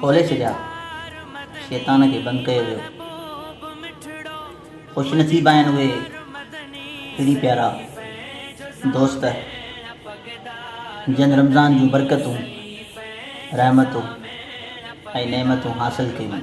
کولي ڇڏيا، شيطان کي بند ڪيو ويو. خوش نصيب آهن اهي پيري پيارا دوست جن رمضان جون برڪتون، رحمتون ۽ نعمتون حاصل ڪيون.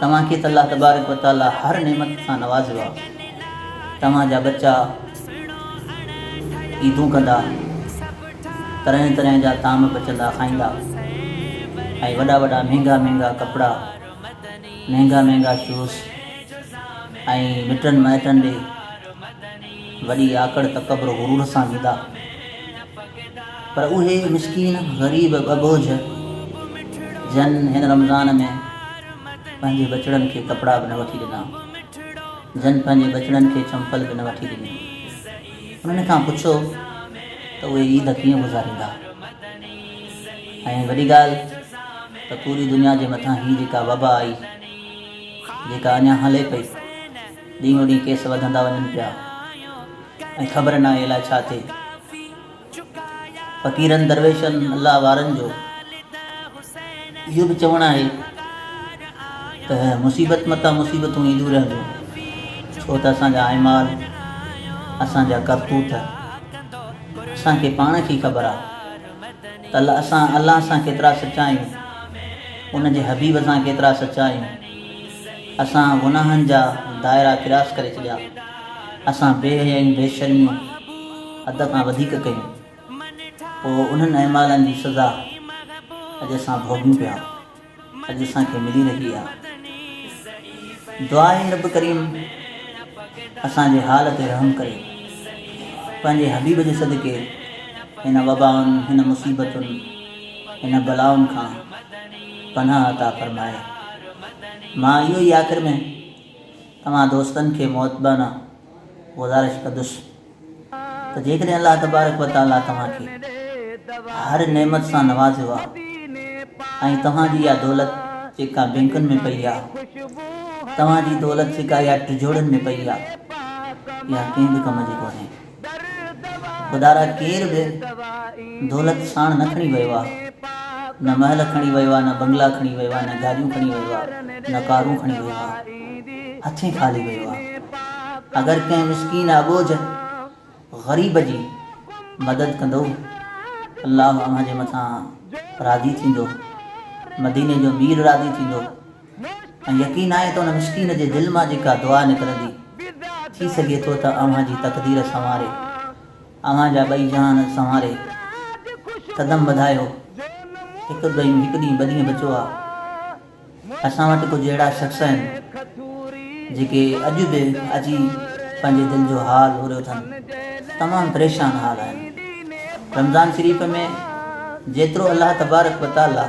توهان کي ته الله تبارڪ و تعالي هر نعمت سان نوازيو آهي. توهان جا ٻچا عيدون ڪندا، طرحين طرحين جا طعام پچندا کائيندا ۽ وڏا وڏا مهنگا مهنگا ڪپڙا، مهنگا مهنگا شوز ۽ مٽن مائٽن ڏي، وڏي آڪڙ، تڪبر، غرور سان ويندا، پر اهي مسڪين، غريب، ٻه بوجهه، جن هن رمضان ۾ پنهنجي ٻچڙن کي ڪپڙا به نه وٺي ڏنا، جن پنهنجي ٻچڙن کي چمپل به نه وٺي ڏني، انهن کان پڇو ته اهي عيد ڪيئن گذاريندا؟ ۽ وڏي ڳالهه ته پوري دنيا جي مٿان هي جيڪا وبا آئي، جيڪا اڃا هلي پئي، ڏينهون ڏينهن ڪيس وڌندا وڃن پيا ۽ خبر ناهي الاء ڇا ٿئي. فقيرن درويشن الله وارن جو اهو به چوڻ آهي ته مصيبت متان مصيبتون اينديون رهنديون ڇو ته اسان جا اعمال اسان جا ڪرتوت اسان کي پاڻ کي خبر آهي ته اسان الله سان ڪيترا سچا آهيون ان جي حبيب سان ڪيترا سچا آهيون اسان گناهن جا دائرا ڪراس ڪري ڇڏيا، اسان بي حيائي ۽ بي شرميون حد کان وڌيڪ ڪيون، پوء انهن اعمالن جي سزا اڄ اسان ڀوڳيون پيا، اڄ اسان کي ملي رهي آهي. دعائي رب ڪريم اسان جي حال تي رحم ڪري، پنهنجي حبيب جي صدقي هن وبائن، هن مصيبتن، هن بلائن کان پناهه عطا فرمائي. مان اهو ئي آخر ۾ توهان دوستن کي مؤدبانه گذارش ڪندس ته جيڪڏهن الله تبارڪ و تعاليٰ توهان کي هر نعمت سان نوازيو آهي ۽ توهان جي اها دولت جيڪا بينڪن ۾ پئي آهي، توهان جي دولت جيڪا اها ٽجوڙن ۾ پئي آهي، اها ڪنهن به ڪم جي ڪونهي. خدارا ڪير به دولت ساڻ نه کڻي ويو آ، نه محل کڻي ويو آ، نه بنگلا کڻي ويو آ، نه گاڏيون کڻي ويو آ، نه ڪارون کڻي ويو آ، هٿين خالي ويو آ. اگر ڪنهن مسڪين اٻوجهه، غريب، جي مدد ڪندؤ، الله اوهان جي مٿان راضي ٿيندو، مديني جو مير راضي ٿيندو. ۽ يقين آهي ته ان مسڪين جي دل مان جيڪا دعا نڪرندي، ٿي سگهي ٿو ته اوهان جي تقدير سنواري، اوهان جا ٻئي جهان سنواري. قدم وڌايو، هڪ ڏينهن هڪ ڏينهن ٻه ڏينهن بچو آ. اسان وٽ ڪجهه اهڙا شخص آهن، جيڪي اڄ به اچي پنهنجي دل جو حال اوريو اٿن، تمام پريشان حال آهن. رمضان شريف ۾ جيترو الله تبارڪ وتعاليٰ.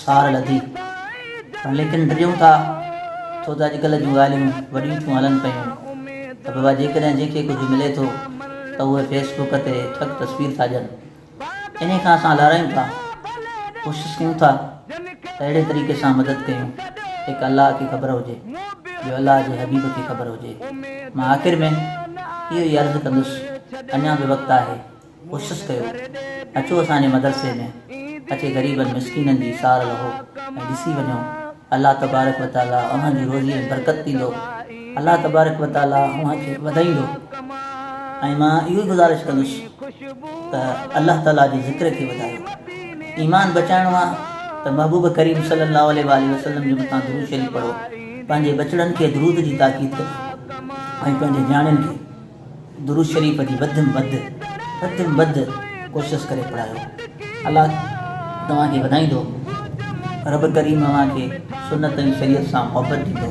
سار لڌي پر ليڪن ڊڄون ٿا ڇو ته اڄڪلهه جون ڳالهيون وڏيون ٿيون هلن پيون ته بابا جيڪڏهن جنهن کي ڪجهه ملي ٿو ته اهي فيس بوڪ تي ٺڳ تصوير ٿا ڏين انهي کان اسان لارائيون ٿا ڪوشش ڪيون ٿا ته اهڙي طريقي سان مدد ڪيون هڪ الله کي خبر هجي ٻيو الله جي حبيب کي خبر هجي مان آخر ۾ اهو ئي عرض ڪندس اڃا به وقت آهي ڪوشس ڪيو اچو اسان جي مدرسي ۾ اچي غريبن مسڪينن جي سار لهو ۽ ڏسي وڃو الله تبارڪ و تعالي اوهان جي روزي ۾ برڪت ڏيندو الله تبارڪ و تعالي اوهان کي وڌائيندو ۽ مان اهو ئي گذارش ڪندس ته الله تعالي جي ذڪر کي وڌايو ايمان بچائڻو آهي ته محبوب ڪريم صلي الله عليه واله وسلم جي مٿان درود شريف پڙهو پنهنجي ٻچڙن کي درود جي تاڪيد ڪجي ۽ پنهنجي نياڻين کي درود شريف جي وڌ م وڌ وڌ م وڌ ڪوشس ڪري پڙهايو الله توهان کي وڌائيندو رب ڪريم اوهان کي سنت ۽ شريعت سان محبت ڏيندو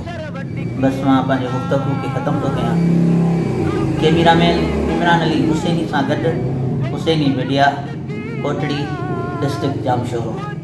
بس مان پنهنجي گفتگو کي ختم ٿو ڪيان ڪيميرا مين عمران علي حسيني سان گڏ حسيني ميڊيا ڪوٽڙي ڊسٽرڪٽ ڄامشورو